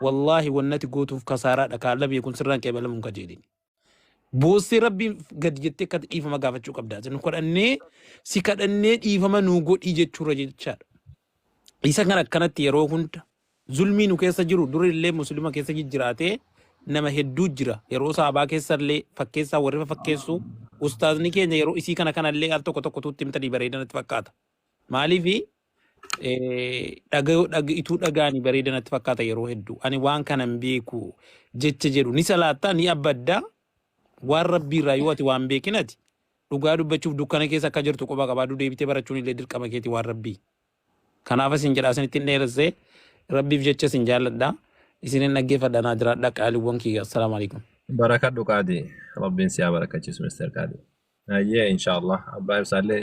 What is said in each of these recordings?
Wallaahi wanni ati gootuuf kasaaraadha kaa labee kun sirraan qeebalamuun kajeelini. Boossee rabbiin gadi jettee akka dhiifama gaafachuu qabda. Isin kadhannee si kadhannee dhiifama nuu godhii jechuurra jechaadha. Isa kan akkanatti yeroo hunda zulmii nu keessa jiru duri illee muslima keessa jijjiraatee nama hedduu jira yeroo saabaa keessa illee fakkeessaa warrifa fakkeessu ustaazni keenya yeroo isii kana kana illee al tokko tokko tuutti himtanii bareedanatti fakkaata. Maaliif Eh, dhagayoo dhag ituu dhagaani bareeda natti fakkaata yeroo hedduu ani waan kana hin beeku jecha jedhu ni salaattaa ni abbaddaa waan rabbii irraa yoo ati waan beekin ati dhugaa dubbachuuf dukkana keessa akka jirtu quba qabaaduu deebitee barachuun illee dirqama keeti waan rabbii kanaaf isin jedhaa isin ittiin dheeressee rabbiif jecha isin jaalladha isin hin dhaggeeffadha naa jiraadha qaaliiwwan kiyya assalaamu alaikum Barakadhu qaadi. Rabbiin siyaa barakachiisu Mr. Qaadi. Ayyee inshaallah. Abbaa ibsaallee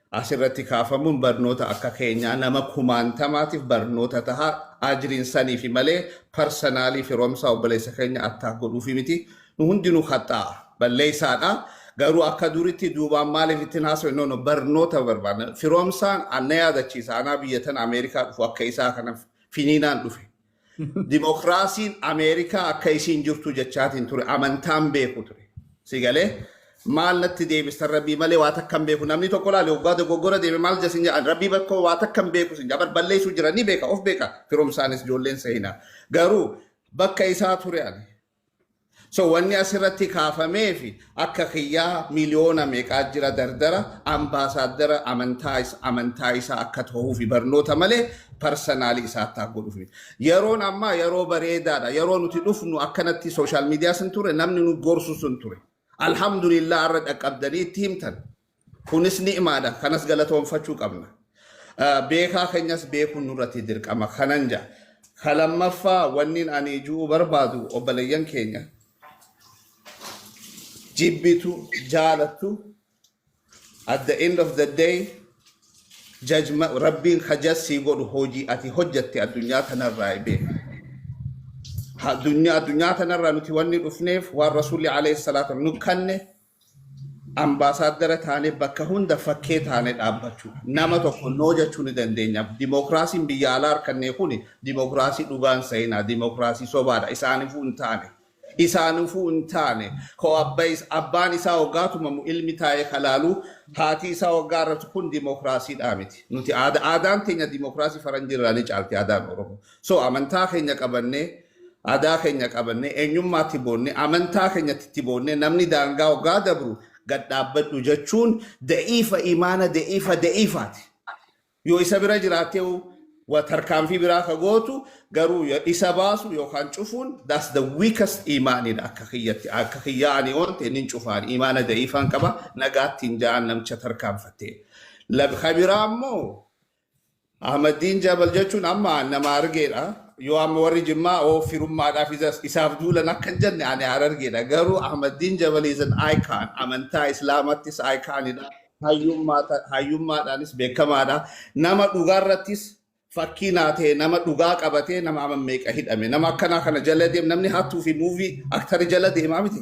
As irratti kaafamuun barnoota akka keenyaa nama kumaantamaatiif barnoota taha ajriin saniifi malee parsanaalii firoomsaa obboleessa keenya attack godhuufi miti nu hundinuu khaxxaa'a balleessaadha garuu akka duritti duubaan maaliif ittin haasofne no no barnoota barbaanna firoomsaan anna yaadachiisa anaa biyya tana Ameerikaa dhufu akka isaa kana finiinaan dhufe Dimokiraasiin Ameerikaa akka isiin jirtu jechaatiin ture. Amantaan beeku ture. Si galee maal natti deebistan rabbii malee waa takka hin beeku. Namni tokko laale waggaa dogoggora deeme maal jedha sin jedhan rabbii bakkoo waa takka hin beeku sin jedha. Balleessuu jira ni beeka of beeka firomsaanis ijoolleen seenaa. Garuu bakka isaa ture ani. So wanni asirratti kaafamee fi akka kiyyaa miliyoona meeqaa jira dardara ambaasaaddara amantaa is- amantaa isaa akka ta'uu fi barnoota malee parsanaalii isaatti haa godhuuf. Yeroon ammaa yeroo bareedaadha. Yeroo nuti dhufnu akkanatti sooshaal miidiyaa sun ture namni nu gorsu sun ture. Alhamdulillah irra dhaqqabdanii itti himtan. Kunis ni'maadha. Kanas galatoomfachuu qabna. Beekaa keenyas beekuun nurratti dirqama kanan ja'a. Ka lammaffaa wannin ani ju'uu barbaadu obboleeyyan keenya jibbitu jaalattu at the end of the day jajma rabbiin ka jassii godhu hojii ati hojjatte addunyaa tanarraa beeka. Addunyaa addunyaa tanarraa nuti wanni dhufneef waan rasuulli alayhi salaatu nu kanne Ambaasaaddara taanee bakka hunda fakkee taanee dhaabbachuu dha. Nama tokko no jechuu ni dandeenya. Dimookiraasiin biyya alaa arkannee kun dimookiraasii dhugaa hin sa'inaa. Dimookiraasii sobaa dha. Isaanifuu hin taane. Isaanifuu hin taane. Koo abba is, abbaan isaa hoggaa tumamu ilmi taa'ee ka laalu, haati isaa hoggaa arrabsu kun dimookiraasii dhaa miti. Nuti aada, aadaan teenya dimookiraasii faranjii irraa ni caalti aadaan Oromoo. So amantaa keenya qabannee Adaa keenya qabannee, eenyummaa itti boonnee, amantaa keenyatti itti boonnee namni daangaa hoggaa dabru gad dhaabbadhu jechuun da'iifa imaana da'iifa da'iifaati. Yoo isa bira jiraattee wa tarkaanfii biraa ka gootu garuu ya- isa baasu yookaan cufuun that's the weakest imaanidha akka kiyyatti akka kiyyaa ani oon ta'e nin cufaan imaana da'iifaan qaba nagaatti hin ja'an namicha tarkaanfattee. Lab- Ka biraa immoo Ahmaddiin Jabal jechuun amma nama Harargeedha. Yoo amma warri Jimmaa oo firummaadhaaf isa- isaaf duulan akka hin jenne ani Harargeedha. Garuu Ahmaddiin Jabal is an icon. Amantaa Islaamattis iconidha. Hayyummaa ta- hayyummaadhaanis beekamaadha. Nama dhugaarrattis fakkii naa ta'e nama dhugaa qabatee nama amma meeqa hidhame. Nama akkanaa kana jala deem namni hattuu fi muuvii aktari jala deemaa miti.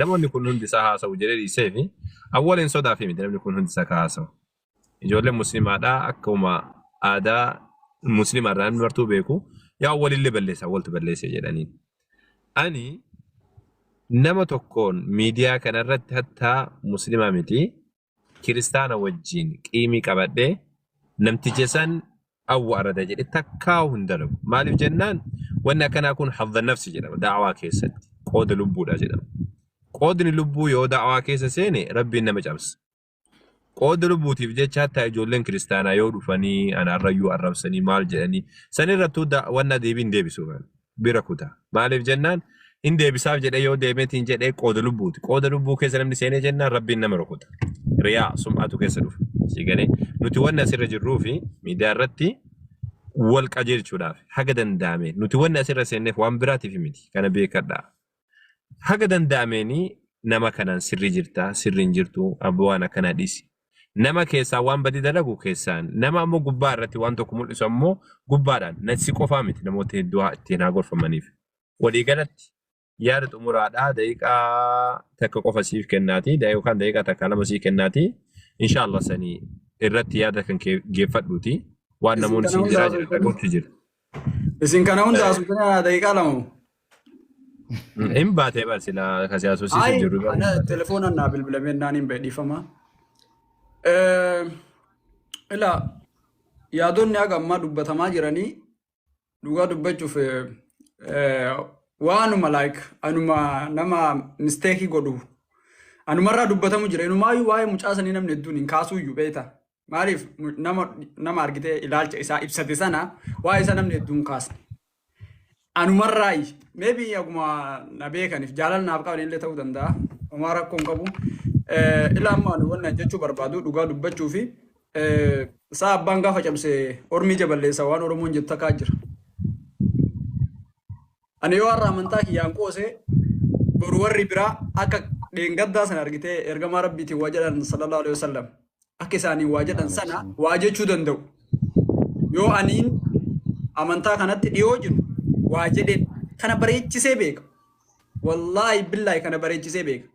Namoonni kun hundi isaa haasa'u jedhee dhiiseefi awwaleen sodaafii miti namni kun hundi isaa ka haasa'u. Ijoolleen muslimaadhaa akkuma aadaa muslima irraa namni martuu beeku yaa awwalillee balleessa awwaltu balleesse jedhaniin. Ani nama tokkoon miidiyaa kanarratti hattaa muslimaa miti kiristaana wajjiin qiimii qabadhe namticha san awwa arada jedhe takkaa'u hin dalagu maaliif jennaan wanni akkanaa kun hadda nafsi jedhama da'awaa keessatti qooda lubbuudha jedhama qoodni lubbuu yoo da'awaa keessa seene rabbiin nama cabsa qooda lubbuutiif jecha hatta ijoolleen kiristaanaa yoo dhufanii anaarrayyuu arrabsanii maal jedhanii sanirrattuu da- wanna deebiin deebisuu kan bira kuta. Maaliif jennaan hin deebisaaf jedhee yoo deemeetiin jedhee qooda lubbuuti. Qooda lubbuu keessa namni seenee jennaan rabbiin nama rukuta. Riyaa sum'atu keessa dhufa. Sii galee nuti wanni asirra jirruu fi miidiyaa irratti wal qajeelchuudhaaf haga danda'ame nuti wanni asirra seenneef waan biraatiif miti kana beekadhaa. Haga danda'ameeni nama kanaan sirri jirtaa sirri hin jirtuu abbo waan akkana dhisi. Nama keessaan waan badii dalagu keessaan nama ammoo gubbaa irratti waan tokko mul'isu ammoo gubbaadhaan na si qofaa miti namoota hedduu haa ittiin haa gorfamaniif. Walii galatti yaada xumuraadhaa daqiiqaa takka qofa siif kennaati da- yookaan daqiiqaa takka lama sii kennaati insha Allah sanii irratti yaada kan kee geeffadhuuti waan Isin namoonni kana siin hunda jiraa jiran haasoftan. dhagootti jira. Isin kana hunda haasoftan daqiiqaa lama moo? Hin baatee bar silaa kasi haasofsiisuuf Ayi jirru bar hin ana baatee. telefoonaan naa bilbilamee naan hin bahe dhiifama. Eh, Ilaa yaadonni haga ammaa dubbatamaa jiranii dhugaa dubbachuuf eh, eh, waanuma like anuma nama misteekii godhu anumarraa dubbatamu jira inumaayyuu waa'ee mucaa sanii namni hedduun hin kaasuuyyu beekta Maaliif nama nama argitee ilaalcha isaa ibsate sana waa'ee isaa namni hedduun kaasne. Anumarraayi maybe akkuma na beekaniif jaalala naaf qaban illee ta'uu danda'a. Homaa rakkoo hin qabu. Eh, Ilaa amma ani wanna jechuu barbaadu dhugaa dubbachuu fi eh, isaa abbaan gaafa cabse ormi ija balleessa waan Oromoon jettu takkaa jira. Ani yoo har'a amantaa kiyyaan qoose boru warri biraa akka dheengaddaa sana argitee ergamaa rabbiitiin waa jedhan sallallahu alaihi wasallam akka isaaniin waa jedhan sana waa jechuu danda'u. Yoo aniin amantaa kanatti dhiyoo jiru waa jedheen kana bareechisee beeka. Wallaahi billaahi kana bareechisee beeka.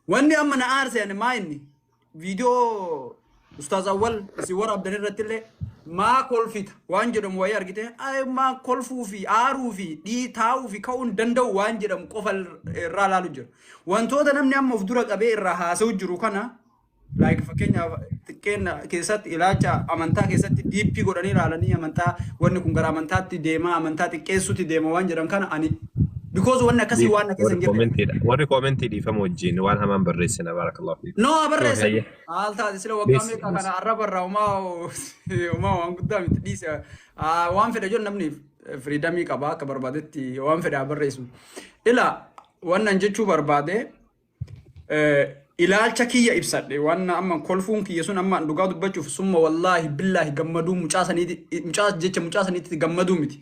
Wanni amma na aarse ani maa inni viidiyoo Ustaaz Awwal isin waraabdan irrattillee maa kolfita waan jedhamu wayii argite "Ay, maa kolfuu fi aaruu fi dhii taa'uu fi ka'uu hin danda'u waan jedhamu qofa irraa ilaalu jira. Wantoota namni amma of dura qabee irraa haasa'u jiru kana like fakkeenyaaf xiqqeenna keessatti ilaacha amantaa keessatti diippii godhanii ilaalanii amantaa wanni kun gara amantaatti deema amantaa xiqqeessuutti deema waan jedhan kana ani because wanni akkasii waan na keessa hin jirre warri koomentii dhiifama wajjin waan hamaan barreessina baarakallahu fiikum. no abarreessa Hayyee. haal taate sila waggaa Please, meeqa please. kana arraba irraa umaa umaa waan guddaa miti dhiise Ah, waan fedha jiru namni firiidamii qaba akka barbaadetti waan fedha barreessu ila wannan jechuu barbaade ilaalcha kiyya ibsadhe waan amma kolfuun kiyya sun amma dhugaa dubbachuuf summa wallaahi billaahi gammaduu mucaa saniiti mucaa jecha mucaa saniitti gammaduu miti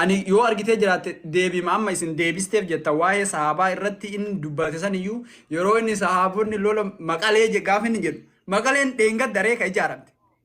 ani yoo argitee jiraatte deebiima amma isin deebisteef jetta waa'ee sahaabaa irratti inni dubbate saniyyuu yeroo inni sahaabonni lola maqalee je- gaafa inni jedhu maqaleen dheengadda reeka ijaaramte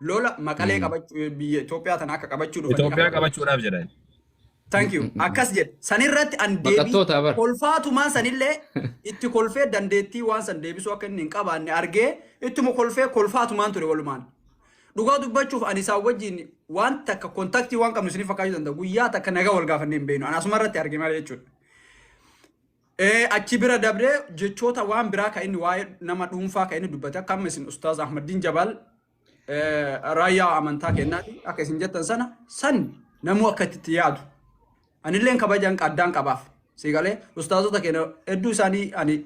lola maqalee Mm. qabachuu biyya Itoophiyaa tana akka qabachuu dhufanii Itoophiyaa akka qabachuudhaaf jedhan. Thank you. Akkas jedhe. Sanirratti an deebii Baqattoota bar. kolfaatumaan sanillee itti kolfee dandeettii waan san deebisuu akka inni hin qabaanne argee ittuma kolfee kolfaatumaan ture walumaan. Dhugaa dubbachuuf ani isaan wajjin waan takka kontaktii waan qabnu isiniif fakkaachuu danda'a. Guyyaa takka nagaa wal gaafannee hin beeknu. Ani asuma irratti arge malee jechuudha. Ee, achi bira dabree jechoota waan biraa kan inni waa'ee nama dhuunfaa kan inni dubbate akka amma isin Ustaaz Ahmaddiin Jabaal eh, raayyaa amantaa kennaati akka isin jettan sana san namuu akka itti yaadu. Anilleen kabajaan qaddaan qabaaf. Si galee ustaazota keenya hedduu isaanii ani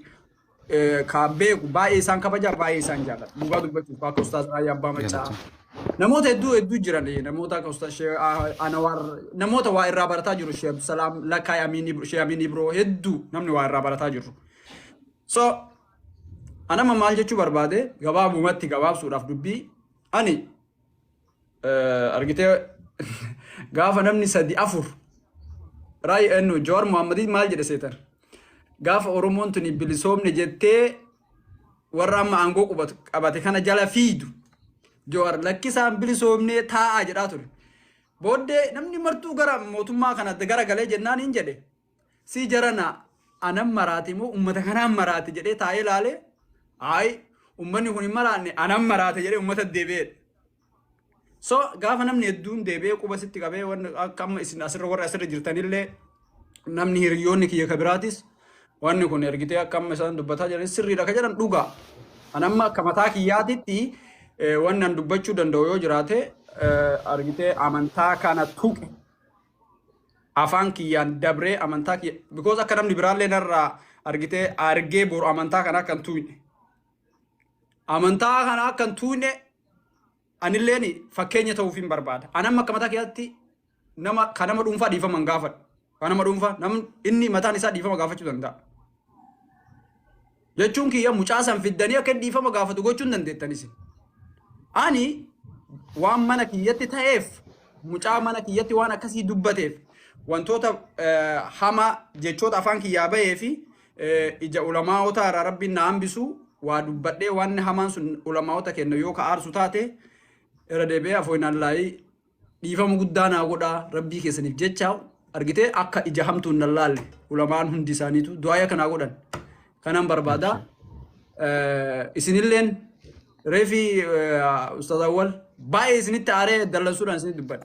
eh, ka beeku baay'ee isaan kabajaa baay'ee isaan jaalladha. Dhugaa dubbachuuf akka ustaaz raayyaa abbaa maccaa Galatoom. Namoota hedduu hedduu jiran namoota akka Ustaz Shee Anawaar namoota waa irraa barataa jiru Shee Abdusalaam Lakkaay Amiin Ibro Shee Amiin Ibro hedduu namni waa irraa barataa jiru. So anama maal jechuu barbaade gabaabumatti gabaabsuudhaaf dubbii ani argitee gaafa namni sadi afur raayii ennu Jawaar Muhammadii maal jedhe seetan gaafa Oromoon tuni bilisoomne jettee warra amma aangoo qubatu qabate kana jala fiidu Jawaar lakkisaan bilisoomnee taa'aa jedhaa ture. Booddee namni martuu gara mootummaa kana gara galee jennaan hin jedhe si jarana anan maraate moo ummata kanaan maraate jedhee taa'ee laalee ayi ummanni kun hin maraanne anan maraate jedhee ummata deebi'eedha. So gaafa namni hedduun deebi'ee quba sitti qabee waan akka amma isin asirra warri asirra jirtanillee namni hiriyoonni kiyya ka biraatis wanni kun ergitee akka amma isaan dubbataa jiran sirriidha ka jedhan dhugaa. An amma akka mataa kiyyaatitti eh, wanni an dubbachuu danda'u yoo jiraate eh, argitee amantaa kana tuqe afaan kiyyaan dabree amantaa kiyya because akka namni biraallee narraa argitee argee boru amantaa kana akka hin tuqne. amantaa kana akka hin tuune anilleen fakkeenya ta'uuf hin barbaada. Anam akka mataa keessatti nama kan nama dhuunfaa dhiifama hin gaafadhu. Kan nama dhuunfaa namni inni mataan isaa dhiifama gaafachuu danda'a. Jechuun kiyya mucaa san fiddanii akka inni dhiifama gaafatu gochuu hin dandeettan isin. Ani waan mana kiyyatti ta'eef mucaa mana kiyyatti waan akkasii dubbateef wantoota eh, hamaa jechoota afaan kiyyaa bahee fi Eh, ija ulamaa'otaa irraa rabbiin na hambisu waa dubbadhee wanni hamaan sun ulamaa'ota kenna yoo ka aarsu taate irra deebi'ee afooyinallaahii dhiifama guddaa naa godhaa rabbii keessaniif jecha argitee akka ija hamtuun na laalle ulamaan hundi isaaniitu du'aaya kanaa godhan kanan barbaada Eh, isinilleen reefi ustaaz awwal baay'ee isinitti aaree dallansuudhaan isinitti dubbadhe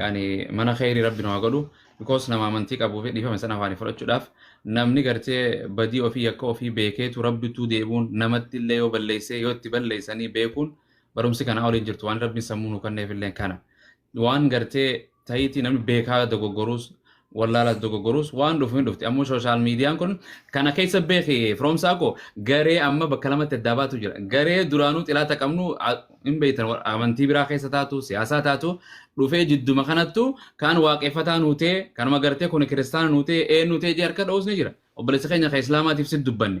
yani mana kheyri rabbi nu haa godhu because nama amantii qabuu fi dhiifame sana afaanii fudhachuudhaaf namni gartee badii ofii yakka ofii beekeetu rabbituu deebuun namatti illee yoo balleessee yoo itti balleessanii beekuun barumsi kanaa oliin jirtu waan rabbiin sammuu nu kanneef illee kana waan gartee ta'iitii namni beekaa dogoggoruus wallaalas dogoggoruus waan dhufu hin dhufti ammoo sooshaal miidiyaan kun kana keessa beeki firoomsaa koo garee amma bakka lamatti addaa baatu jira garee duraanuu xilaata qabnu a- hin beektan wa- amantii biraa keessa taatu siyaasaa taatu dhufee jidduma kanattu kaan waaqeffataa nuutee kanuma gartee kun kiristaana nuutee eenyu ta'e jee harka dha'uus ni jira obboleessa keenya kan islaamaatiif si dubbanne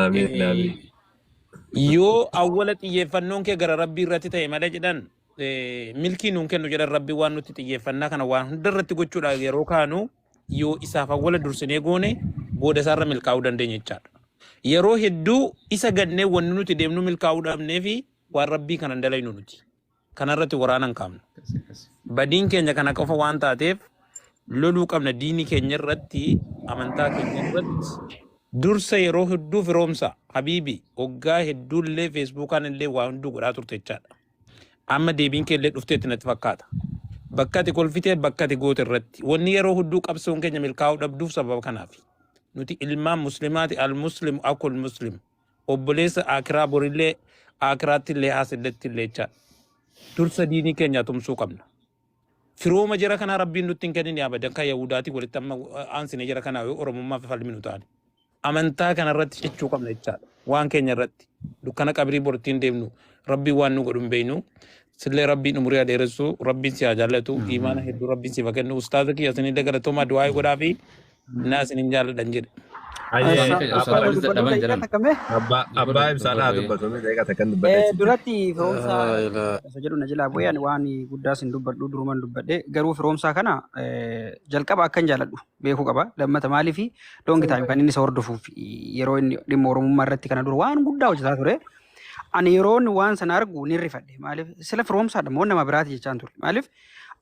Aamiin Eh, aamiin. yoo awwala xiyyeeffannoon kee gara rabbii irratti ta'e malee jedhan eh, milkii nuun kennu jedhan rabbi waan nutti xiyyeeffannaa kana waan hunda irratti gochuudha yeroo kaanu yoo isaaf awwala dursinee goone booda isaarra milkaa'uu dandeenya jechaadha. Yeroo hedduu isa gannee wanni nuti deemnu milkaa'uu dhabnee fi waan rabbii kana hin dalaynu nuti. Kana irratti waraana hin kaafnu. Badiin keenya kana qofa waan taateef loluu qabna diinii keenya irratti amantaa keenya irratti dursa yeroo hedduu firoomsa habiibi waggaa hedduu illee feesbuukaan illee waa hunduu godhaa turte jechaadha. Amma deebiin kee illee dhufteetti natti fakkaata. Bakka ati kolfitee bakka ati goote irratti wanni yeroo hedduu qabsoon keenya milkaa'uu dhabduuf sababa kanaafi. Nuti ilmaan muslimaati al muslim akul muslim. obboleessa aakiraa borillee aakiraattillee haasillettiilleecha dursa diinii keenyaa tumsuu qabna firooma jara kanaa rabbiin nutti hin kennin abadan kan yahuudaatii walitti amma aansine jara kanaa yoo oromummaaf falminu taane amantaa kana irratti cichuu qabna jechaadha waan keenya irratti dukkana qabrii bortiin deemnu rabbii waan nu godhu hin beeynu Sillee rabbiin umurii haa dheeressu rabbiin si haa jaallatu Amiin. iimaana hedduu rabbiin siif haa kennu ustaaza kiyya isinillee galatoomaa du'aayi godhaa fi naa isinin jaalladhan jedhe. Hayyee Ustaaza kiyya abbaa ustaaza Ustaaza dubbadhu dadhaban daqiiqaa jedhan. takka mee abbaa Dubbadhu abbaa dubbadhu ibsaa naa baay'ee. dubbatu mee daqiiqaa takkan dubbadhe Eh, achi jira. duratti firoomsaa Laa ilaa. isa jedhu na jilaa bu'ee ani waan guddaa sin dubbadhu duruman dubbadhe garuu firoomsaa kana eh, jalqaba akkan jaaladhu beekuu qaba lammata maaliif loongi taayim kan inni isa hordofuuf yeroo inni dhimma oromummaa irratti kana dura waan guddaa hojjetaa ture Ani yeroon waan sana argu nin rifadhe. Maaliif? Sila firoomsaadha moo nama biraati jechaan ture. Maaliif?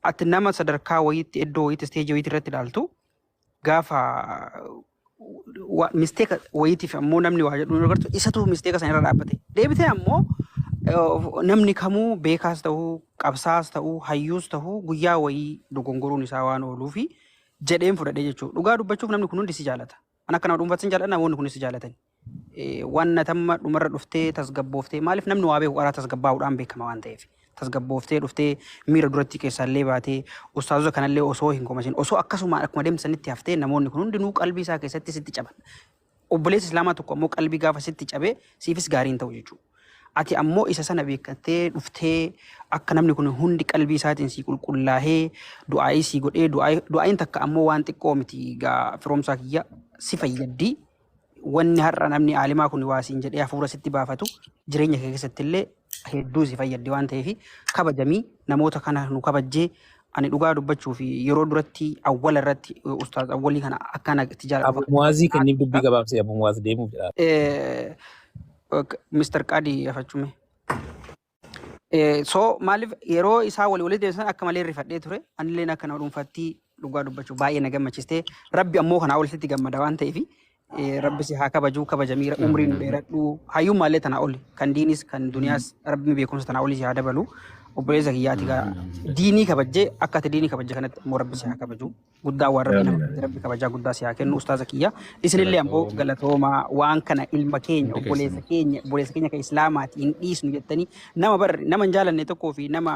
Ati nama sadarkaa wayiitti iddoo wayiitti isteejii wayiitti irratti ilaaltu gaafa wa- misteeka wayiitiif ammoo namni waa jedhu yeroo agartu isatu misteeka sana irra dhaabbate. Deebitee ammoo eh, namni kamuu beekaas ta'uu qabsaas ta'uu hayyuus ta'uu guyyaa wayii dogongoruun isaa waan ooluufi jedheen fudhadhee jechuudha. Dhugaa dubbachuuf namni kun hundi si jaalata. An akka nama dhuunfaatti sin jaalladha namoonni kunis si jaalatan. Waan ati amma dhumarra dhuftee tasgabbooftee maaliif namni waa beeku qaraa tasgabbaa'uudhaan beekama waan ta'eef tasgabbooftee dhuftee miira durattii keessaallee baatee ustaazota kanallee osoo hin komasin osoo akkasumaan akkuma deemsanitti haftee namoonni kun hundinuu qalbii isaa keessatti sitti caban. Obboleessi islaamaa tokko ammoo qalbii gaafa sitti cabe siifis gaarii hin ta'u jechuudha. Ati ammoo isa sana beekattee dhuftee akka namni kun hundi qalbii isaatiin sii qulqullaahee du'aa'ii sii godhee du'aa'iin takka ammoo waan xiqqoo miti gaa firoomsaa kiyya si fayyaddii. wanni har'a namni aalimaa kun waa siin jedhee hafuura sitti baafatu jireenya kee keessatti illee hedduu si fayyaddi waan ta'eef kabajamii namoota kana nu kabajjee ani dhugaa dubbachuu fi yeroo duratti awwala irratti eh, ustaaz awwalii kana akkana itti jaaladhu Abu Muwaazii kenniif dubbii gabaabsee Abu Muwaaz deemuuf jedha. Eh, ok, Mr. Qaadii gafachume. So maaliif yeroo isaa walii walitti deebisan akka malee rifadhee ture. Anilleen akka nama dhuunfaatti dhugaa dubbachuu baay'ee na gammachiiste. Rabbi ammoo kanaa olitti gammada waan ta'eef rabbi si haa kabajuu kabajamii umrii nu dheeradhu. Hayyuu maallee tanaa oli kan diinis kan duniyaas rabbi beekumsa tanaa olii si haa dabalu. Obboleessa kiyyaati gaa diinii kabajjee akka ati diinii kabajje kanatti ammoo rabbi si haa kabajuu. guddaa waan rabbi nama Amiin. rabbi kabajaa guddaa si haa kennu ustaaza kiyya isinillee ammoo Galatooma. galatoomaa waan kana ilma keenya Hundi obboleessa keessan. keenya obboleessa keenya kan islaamaati hin dhiisnu jettanii nama bar nama hin jaalanne tokkoo fi nama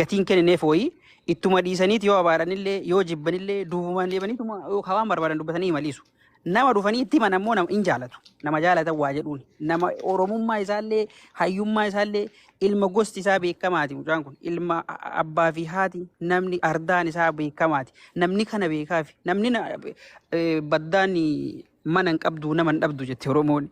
gatiin kennineef wayii ittuma dhiisaniit yoo abaaranillee yoo jibbanillee duubumaan deemaniituma yoo hawaan barbaadan dubbatanii maliisu Nama dhufanii itti himan ammoo nama in jaalatu. Nama jaalatan waa jedhuun. Nama Oromummaa isaallee, hayyummaa isaallee, ilma gosti isaa beekamaati mucaan kun. Ilma a- a- abbaa fi haati namni ardaan isaa beekamaati. Namni kana beekaafi. Namni na- eh, baddaan mana hin qabdu nama hin dhabdu jette Oromoon.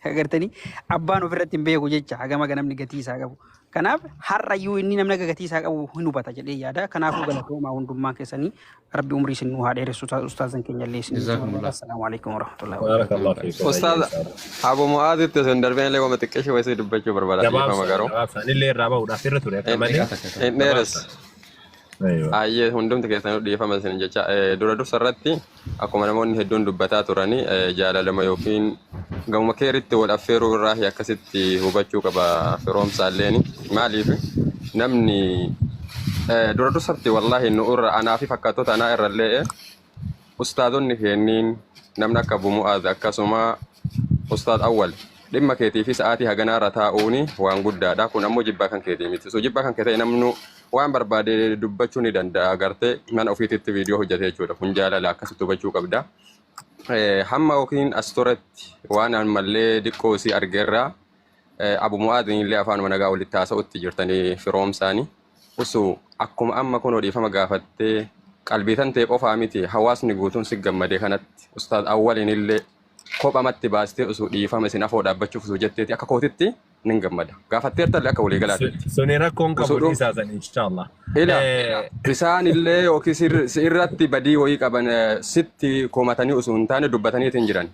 Agartanii abbaan ofirratti hin beeku jecha hagam akka namni gatii isaa qabu. Kanaaf har'ayyuu inni namni akka gatii isaa qabu hin hubata jedhee yaada. Kanaafuu galatoomaa hundummaan keessanii rabbi umrii isin nuu haa dheeressu Usta- ustaazan keenya illee isin jaalladha. Jazakumullah. Assalaamu alaikum warahmatullahi wabarakatuh. Barakallah Jazakumullah. fiikum. Ustaaz Ayyaa isaa. Abu Mu'aazitti osoo hin darbin illee wama xiqqeeshe wayisii dubbachuu barbaada dhiifama Gabaabsaan garuu. gabaabsaan illee irraa bahuudhaaf irra ture akka Inni malee dhiqata kaka. Inni dheeres. gabaabsaan. Aywa. Ayyee hundumti keessanuu dhiifama isin jecha eh, dura dursa irratti akkuma namoonni hedduun dubbataa turani eh, jaalalama yookiin gamuma keeritti wal affeeruu irraa akkasitti hubachuu qaba firoomsaa illeen maaliif namni eh, dura dursatti wallaahi nu irra anaa fi fakkaattota anaa irra illee ustaadonni keenniin namni akka Abu Mu'aaz akkasuma ustaad Awwal dhimma keetii fi sa'aatii haganaarra taa'uuni waan guddaadha kun ammoo jibbaa kan keetii miti so jibbaa kan kee ta'e namnu waan barbaade dubbachuu ni danda'a agartee mana ofiititti viidiyoo hojjete jechuudha kun jaalala akkasitti hubachuu qabda Eh, hamma yookiin as turetti waan ammallee diqqoo isii argeerraa Abu Mu'aadin illee afaanuma nagaa walitti haasa'utti jirtanii firoomsaani. Usu akkuma amma kunoo dhiifama gaafattee qalbii tantee qofaa miti hawaasni guutuun si gammade kanatti ustaaz awwaliin illee kophamatti baastee usu dhiifama isin afoo dhaabbachuuf usu jetteeti akka kootitti nin gammada. Gaafatteertallee akka walii galaatitti. Suni rakkoon qabu Usuudhu- dhiisaa san inshaallah. Ila Eh, isaan illee yookiin si irratti badii wayii qaban eh, sitti komatanii osoo hin taane dubbataniitiin jiran.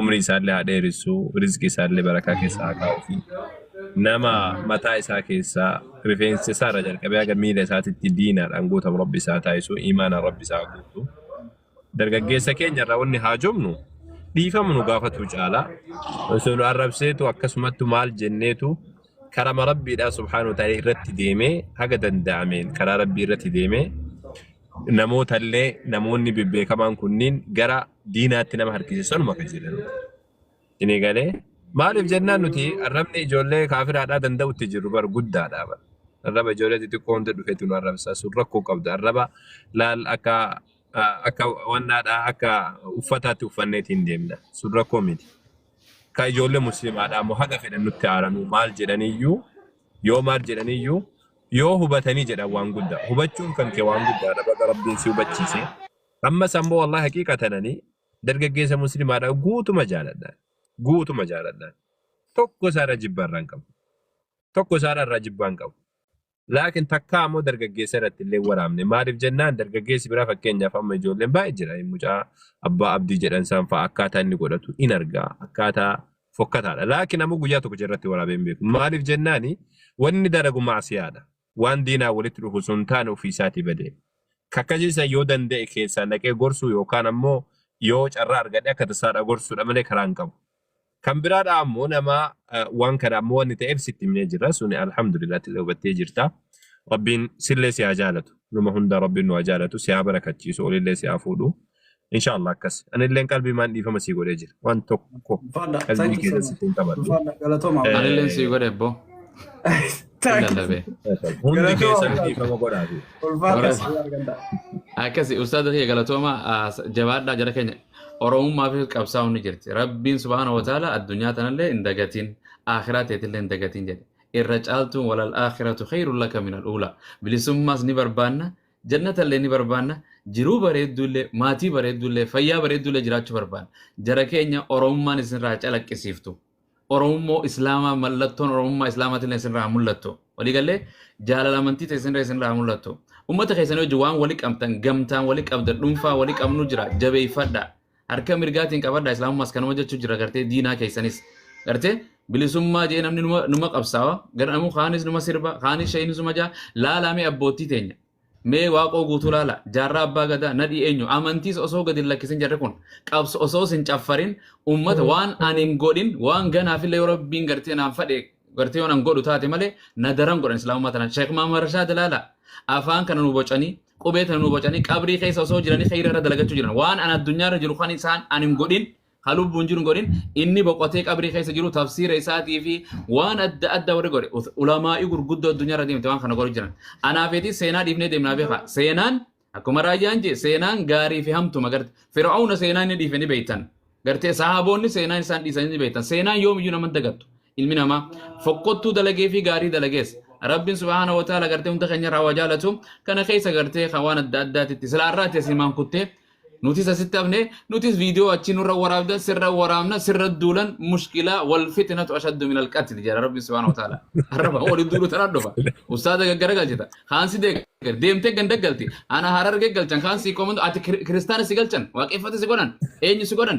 umrii isaallee haa dheeressu rizqii isaallee barakaa keessa haa kaa'uufi nama mataa isaa keessaa rifeensa isaa irra jalqabee haga miila isaatitti diinaadhaan guutamu rabbi isaa taasisu imaanaan rabbi isaa guutu dargaggeessa keenya irraa wanni haa jomnu dhiifama nu gaafatu caalaa osoo nu arrabseetu akkasumatti maal jenneetu karama rabbiidhaa subhaanahu wa ta'ala irratti deemee haga danda'ameen karaa rabbii irratti deemee namootallee namoonni bebbeekamaan kunniin gara diinaatti nama harkise sanuma kan jedhan. Inni galee maaliif jennaan nuti arrabni ijoollee kaafiraadhaa danda'utti jirru bar guddaadhaa bar. Arraba ijoollee xixiqqoo hunda dhufetu nu arrabsaa sun rakkoo qabda. Arraba laal akka ah, akka wannaadhaa akka uffataatti uffanneeti hin deemna. Sun rakkoo miti. Ka ijoollee musliimaadhaa immoo haga fedhan nutti aaranuu maal jedhaniyyuu yoo maal jedhaniyyuu yoo hubatanii jedhan waan guddaa. Hubachuun kan kee waan guddaadha. Baga Rabbiin si hubachiisee. Ammas ammoo wallahi haqiiqatan ani dargaggeessa muslimaadha guutuma jaaladha. Guutuma jaaladha. Tokko isaarra jibba irraa hin qabu. Tokko isaarra irraa jibbaa hin qabu. Laakiin takkaa ammoo dargaggeessa irratti illee waraabne. Maaliif jennaan dargaggeessi biraa fakkeenyaaf amma ijoolleen baay'ee jira. Mucaa abbaa abdii jedhan isaan fa'a akkaataa inni godhatu in argaa. Akkaataa fokkataadha. Laakiin ammoo guyyaa tokko irratti waraabee hin beeku. Maaliif jennaani wanni dalagu maasiyaadha. waan diinaa walitti dhufu osoo hin taane ofii isaatii bade. Ka akkasii san yoo danda'e keessaan dhaqee gorsuu yookaan ammoo yoo carraa argadhe akka tasaa dha gorsuu dha malee karaa hin qabu. Kan biraa dha ammoo nama waan kana ammoo wanni ta'eef sitti himnee jirra suni alhamdulillah ati illee hubattee jirta. Rabbiin sillee si haa jaalatu. Numa hunda Rabbiin nu haa jaalatu si haa barakachiisu olillee si haa fuudhu. Inshallah akkas. Anilleen qalbii maan dhiifama sii godhee jira. Waan tokko Ulfaadha. qalbii Thank you so keessatti much. sittiin qabadhu. Ulfaadha. Galatooma. Eh, Anilleen sii godhe ebboo. Thank you. Illalabee. Hundi Galatooma. keessan dhiifama godhaa fi. Ulfaadha. Warra- Sii arganta. Akkasi ustaaza kiyya galatooma ah, jabaadhaa jara keenya oromummaa fi qabsaa'uun ni jirti. Rabbiin subhaana wa ta'ala addunyaa tanallee hin dagatiin akhiraa teetillee hin dagatiin jedhe. Irra caaltuun walal akhiratu khayrun laka min al ula. Bilisummaas ni barbaanna Jannatallee ni barbaanna, jiruu bareedduullee, maatii bareedduullee, fayyaa bareedduullee jiraachuu barbaanna. Jara keenya Oromummaan isinirraa haa calaqqisiiftu. Oromummoo Islaamaa mallattoon Oromummaa Islaamaatillee isinirraa haa mul'attu. Walii gallee? Jaalala amantii teessanirra isinirraa haa mul'attu. Ummata keessanii wajjin waan wali qabdan, gamtaan wali qabdan, dhuunfaa wali qabnu jira. Jabeeffadhaa. Harka mirgaatiin qabadhaa islaamummaas kanuma jechuu jira gartee diinaa keessanis gartee bilisummaa jee namni numa, numa qabsaawa garuu kaanis numa sirba kaanis shayinis numa jaa laalaa mee abboottii teenya mee waaqoo guutuu laala jaarraa abbaa gadaa nadhii eenyu amantiis osoo gadi hin lakkisin jarri kun qabs osoo sin caffarin ummata waan ani hin godhin waan ganaafillee yoo rabbiin gartee naan fadhe gartee yoon an godhu taate malee na daran godhan islaamummaa tanaan sheek maamar rashaad ilaala afaan kana nu bocanii qubee tana nu bocanii qabrii keessa osoo jiranii khayra irra dalagachuu jiran waan an addunyaa irra jiru kan isaan an hin godhin ka lubbuun jiru hin godhin inni boqotee qabrii keessa jiru tafsiira isaatii fi waan adda addaa warri godhe ulamaa'ii gurguddoo addunyaa irra deemte waan kana godhu jiran anaa feetii seenaa dhiifnee deemnaa beekaa seenaan Akkuma raayyaan jee seenaan gaarii fi hamtuma garte fir'aawna seenaa inni dhiife ni beektan garte sahaaboonni seenaan isaan dhiisan ni beektan seenaan yoomiyyuu nama hin dagattu ilmi namaa fokkottuu dalagee fi gaarii dalagees rabbiin subhaana wa ta'ala garte hunda keenya irraa waa jaalatu kana keessa garte kan waan adda addaatitti silaa irraatti asimaan kuttee Nutis asitti hafne nutis viidiyoo achi nurra waraabdan sirra waraabna sirra duulan mushkilaa wal fitnatu ashaddu minal qatli jedha rabbi subhaanahu wa ta'ala. Arraba waliin duulu tanaan dhufa. Ustaaza gaggara galchita. Kaan si deeggar deemtee ganda galti. Ana harargee galchan kaan si komandu ati kir- kiristaana si galchan waaqeffata si godhan eenyu si godhan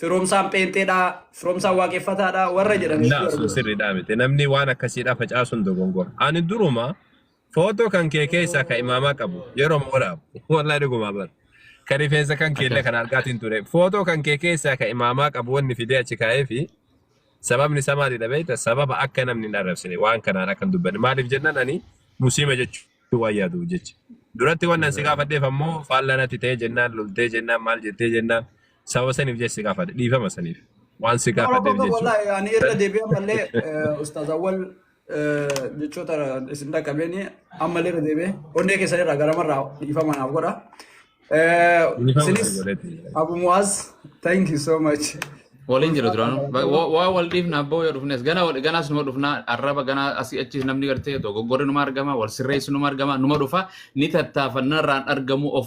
Firoomsaan pheenxeedha, firoomsaan waaqeffataadha warra jedhan hedduu Laa sun argina. sirriidhaa miti. Namni waan akkasiidhaa facaasuun dogongora. Ani duruma footoo kan kee keessaa kan imaamaa qabu yeroo waraabu. Wallaahi dhugumaa bara. Kan rifeensa kan kee illee kan argaatiin ture. Footoo kan kee keessaa kan imaamaa qabu wanni fidee achi kaa'ee fi sababni isaa maalidha beekta? Sababa akka namni hin arrabsine waan kanaan akka hin dubbanne. Maaliif jennaan ani musliima jechuu waan yaadu jecha. Duratti waan nan si gaafadheef ammoo faallaa natti ta'ee jennaan loltee jennaan maal jettee jennaan Sababa saniif jecha si gaafadhe. Dhiifama saniif. Waan si gaafadheef Tokko jechuudha. wallahi ani irra deebi'ee ammallee eh, ustaaz awwal eh, jechoota isin dhaqqabeeni ammallee irra deebi'ee onnee keessan irraa garamarraa dhiifama naaf godha. Eh, Dhiifama Isinis sani godhetti. Abu Muaz thank you so much. Waliin jira duraanu. Ba- wa- Waa wal dhiifna abboo yoo dhufnes gana wal ganas numa dhufna arraba gana asii achiis namni gartee dogoggorri numa argama wal sirreessu numa argama numa dhufa ni tattaafanna irraan argamu of